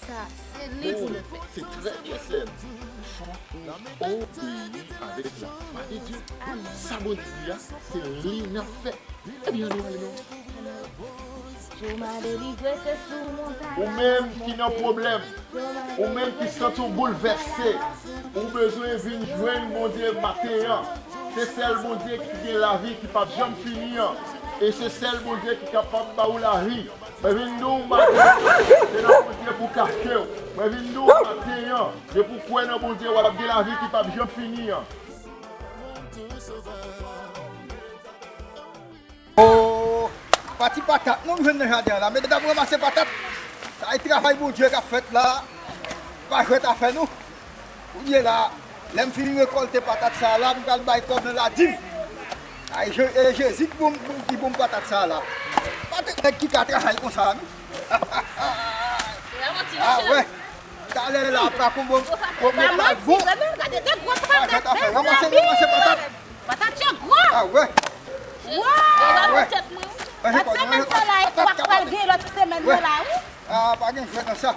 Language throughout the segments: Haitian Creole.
Sa se li pou nou fè. Se trè byen sèm, fò ou obeyi avèk la fwa de Dye. Sa Bondye di a, se li nap fè. Ebyen annou ale non. Ou menm ki nan pwoblèm, ou menm ki santi w boulvèse, ou bezwen vin jwenn Bondye maten an. Se sèl Bondye ki gen lavi ki pap janm fini an, e se sèl Bondye ki kapab ba ou lavi. Mwen vin di w maten an, se nan Bondye pou w kache w. Mwen vin di w maten an, depi w kwè nan Bondye w ap gen lavi ki pap janm fini an. Oh pa ti patat non nou jwenn nan jaden an la medam ranmase patat sa e travay Bondye kap fèt la pa jwèt afè nou. Kounye la, lè m fin rekòlte patat sa a la, m pral bay kòb nan ladim. Ay e Jezi ki bon m patat sa a la. Pa tout nèg ki ka travay konsa a non. A wè, talè la a pa konbo m yo pral bon. Patat a fè ranmase ranmase patat. A wè. A wè. Manje kòb nan manje kòb. Patat ka pa gen. A wè. A pa gen jwèt nan sa.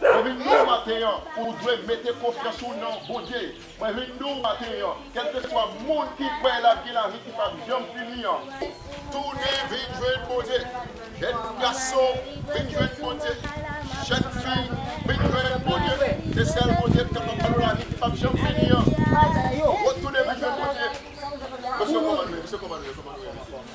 Mwen vin di w maten an, ou dwe mete konfyans ou nan Bondye. Mwen vin di w maten an, kèlkeswa moun ki kwè l ap gen lavi ki pap janm fini an, tounen vin jwenn Bondye, jèn gason, vin jwenn Bondye, jèn fi, vin jwenn Bondye, se sèl Bondye ki kapab ba nou lavi ki pap janm fini an, retounen vin jwenn Bondye. Mesye kòman nou ye?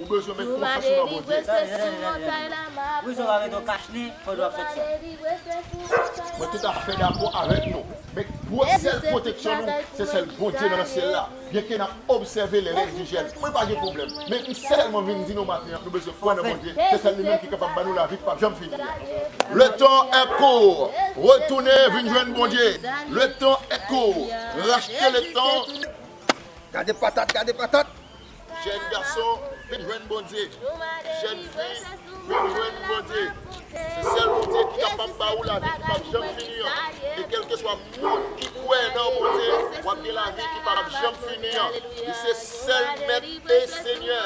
Ou bezwen met konfyans ou nan Bondye. Mwen tout afè dakò avèk nou. Men gwo sèl pwoteksyon nou se sèl Bondye nan nan syèl la. Byenke n ap obsève lè lèn vijèn, mwen pa gen pwoblèm. Men m sèlman vin di nou maten an nou bezwen kwè nan Bondye, se sèl li menm ki kapab ban nou lavi k pap janm fini a. Le tan est court, retounen vin jwenn Bondye. Le tan est court, rachte le tan. Gade patat gade patat. Jèn gason vin jwenn Bondye, jèn fi vin jwenn Bondye. Se sèl Bondye ki kapab ba ou lavi ki pap janm fini an. E kèlkeswa moun ki kwè nan Bondye, w ap gen lavi ki pap janm fini an. Li se sèl Mèt e Senyè.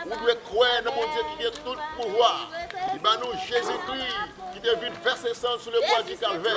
Ou dwe kwè nan Bondye ki gen tout pouvwa. Li ba nou Jezikri ki te vide vèse san l sou lebwa di Kalvè.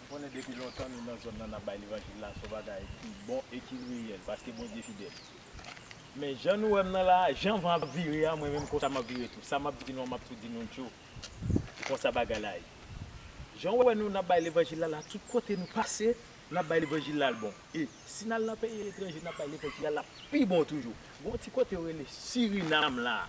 M konnen depi lontan nou nan zòn nan nap bay levanjil la son bagay ki bon e ki reyèl paske Bondye fidèl. Men jan nou wèm nan la a, jan van ap vire a mwen menm konsa map vire tou. Sa map di nou an map tou di nou tjou. Se konsa bagay la ye. Janw wè nou nap bay levanjil la la tout kote nou pase nap bay levanjil la al bon. E si nal nan peyi etranje nap bay levanjil la lap pi bon toujou. Gon ti kote yo rele Sirinam la a.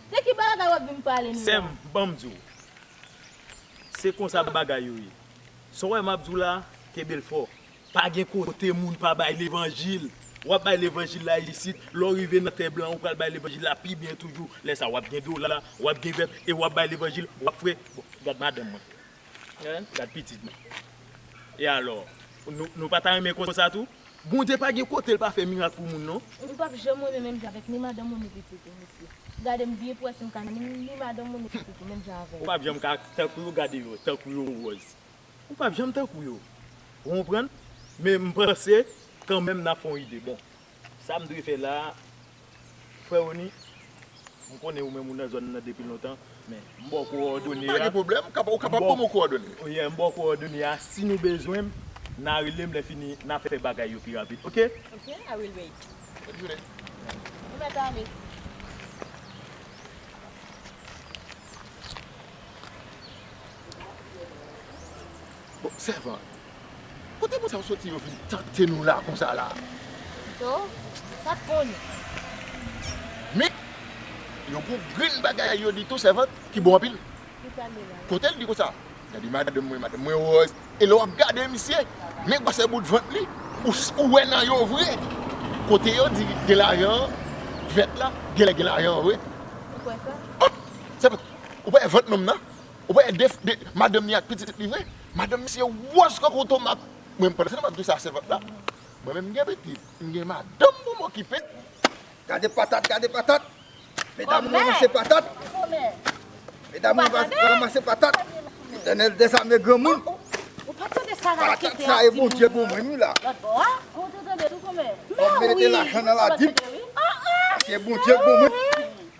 De ki bagay wap vin pale nou la. Sèm banm di w se konsa bagay yo ye sa w wè map di w la kenbe l fò pa gen kote moun pa bay levanjil wap bay levanjil la isit lè w rive nan tè blan ou pral bay levanjil la pi byen toujou lè sa wap gen dola wap gen vèt e wap bay levanjil wap fre bon gad madanm mwen Gad pitit mwen. E alò? Nou pa ta renmen konsa tou? Bondye pa gen kote l pa fè mirak pou moun non. Ou pap janm renmen menm jan avèk ni madanm ou ni pitit ou mesye. Gade m byen pou wè si m ka renmen ni madanm ou ni pitit ou menm jan avè m. Ou pap janm ka tankou yo gade yo tankou yo wòz. Ou pap janm tankou yo. Ou konprann? Men m panse kanmenm n ap fè yon ide bon. Sa m dwe fè la a? Frè Rony, m konnen ou menm ou nan zòn nan depi lontan, men, m ba w kowòdone a. Pa gen pwoblèm, ou kapab ban mwen kowòdone yo. Oyè, m ba w kowòdone a, si nou bezwen m, n a rele m, lèfini, n a fè bagay yo pi rapid, oke? Oke, I will wait. Bòn jounen. Bon mèt ale. Bon sèvant. Kote moun sa yo soti yo vin tante nou la konsa la. Pito ou pat konnen. Men yo gon grenn bagay yo di tou sèvant ki bon anpil. Ki pale la. Kotel di konsa. Gade madanm mwen madanm mwen woz. E lè wap gade misye men gwosè bout vant li ou wè nan yo vre. Kote yo di gen lajan an vèt la genlè gen lajan an vre. Ou kwè sa. Hop sèvant ou pa wè vant nonm nan. Ou pa wè 2 madanm li ak pitit li vre? Madanm misye wòz kankou tomat. Mwen pandan se nan map di sa sèvant la, mwen menm m gen pitit, m gen madanm pou m okipe. Gade patat, gade patat. Medam ou ranmase patat. Medam ou ranmase patat. Letènèl dezame granmoun. Patat sa e Bondye pou mwen wi la. Fòm mete lajan nan ladim. Paske Bondye pou mwen.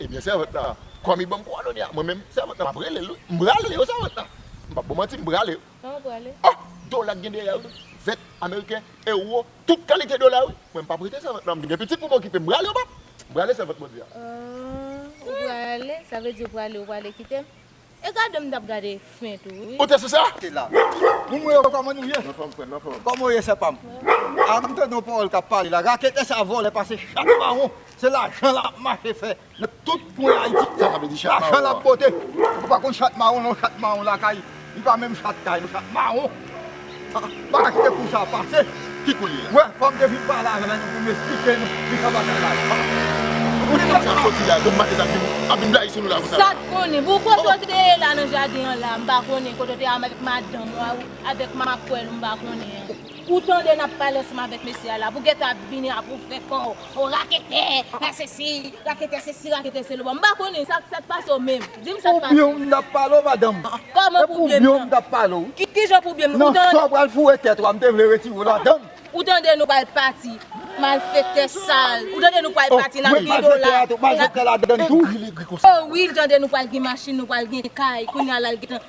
Ebyen sèvant la komi banm kwadone a mwen menm sèvant nan map relel wi m prale yo sèvant nan m pap bon manti m prale yo oh dola k gen dèyè wi vèt ameriken euro tout kalite dola wi mwen m pap rete sèvant nan m gen pitit pou m okipe m prale yo pap m prale sèvant bondye a ooh ou prale sa vle di ou prale ou prale kitem. E gadem m tap gade fen tou wi. Ou te sou sa? Te la. Moun mwen yo koman nou ye? Nan fòm frèm nan fòm. Koman ou ye sè pam? A m tande yon pawòl kap pale la raketè sa vòlè pase chak mawon se lajan lap mache fè nan tout kwen ayiti. Sa sa vle di chat mawon an? Lajan lap pote. Ou pa konn chat mawon non chat mawon lakay li pa menm chat kay non chat mawon. Pase kou sa pase. Ki kou li ye? Wè fòm te vin pale avè nou pou nou esplike nou ki sa bagay la ye. Kote nèg sa soti la don matet ap vin blayi sou nou la konsa la. Sat konnen. Bon kote w te ye la nan jaden an la m pa konnen kote w te avèk madanm ou a ou avèk makwèl ou m pa konnen an. Ou tande nap pale ansanm avèk mesye a la pou gètan ap vini ap ou fè kò ou raketè, a sesi, raketè sesi, raketè seloba m pa konnen sa sak pase w menm. Dim sa k pase. Pou byenw m tap pale w madanm. Kòman pou byenm nan. Kijan pou byenm nan. Nan sa w pral foure tèt ou a m te vle retire w ladann. Ou tande nou pral pati. Malfektè sal. Ou tande nou pral pati nap gen dola. Malfektè ladann tou. Wi li gri konsa. Wi li tande nou pral gen machin nou pral gen kay. Kounya la l gentan